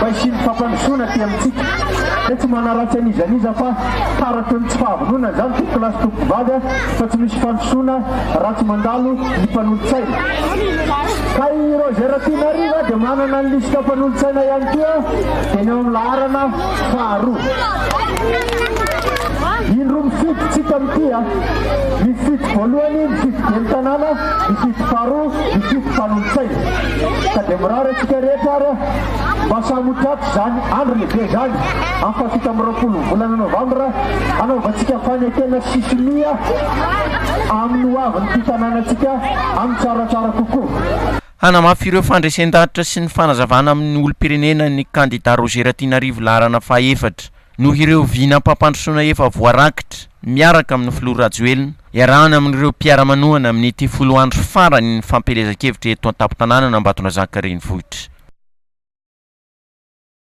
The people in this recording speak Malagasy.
Fa hisian'ny fampandrosoana aty amintsika. Dia tsy manaratsy an'iza n'iza fa taratry ny tsy fahavononana izany tompoko lahy sy tompoko vady a! Fa tsy misy fandrosoana raha tsy mandalo ny mpanolo-tsaina. Ka i Roger Rakotonariva dia manana ny lisitra mpanolo-tsaina ihany koa dia ny ao amin'ny laharana faharoa. Indro mifidy tsika amin'ity a! Mifidy voalohany, mifidy ben'ny tanàna, mifidy faharoa, mifidy mpanolo-tsaina. Ka dia mirary antsika rehetra ary a! Mba samy ho tratry izany andro lehibe izany amin'ny fahafito amby roapolon'ny volana novambra hanaovantsika fanekena sy sonia amin'ny ho avin'ity tanànantsika amin'ny tsaratsara kokoa. Hanamafy ireo fandresen-danitra sy ny fanazavana amin'ny olom-pirenena ny kandida Roger Ratinarivo laharana faha efatra. noho ireo vinam-pampandrosoana efa voarakitra miaraka amin'ny filoha Rajoelina, iarahana amin'ireo mpiara-manohana amin'ity folo andro farany ny fampielezan-kevitra eto an-tampon-tanànan'Ambatondrazaka renivohitra.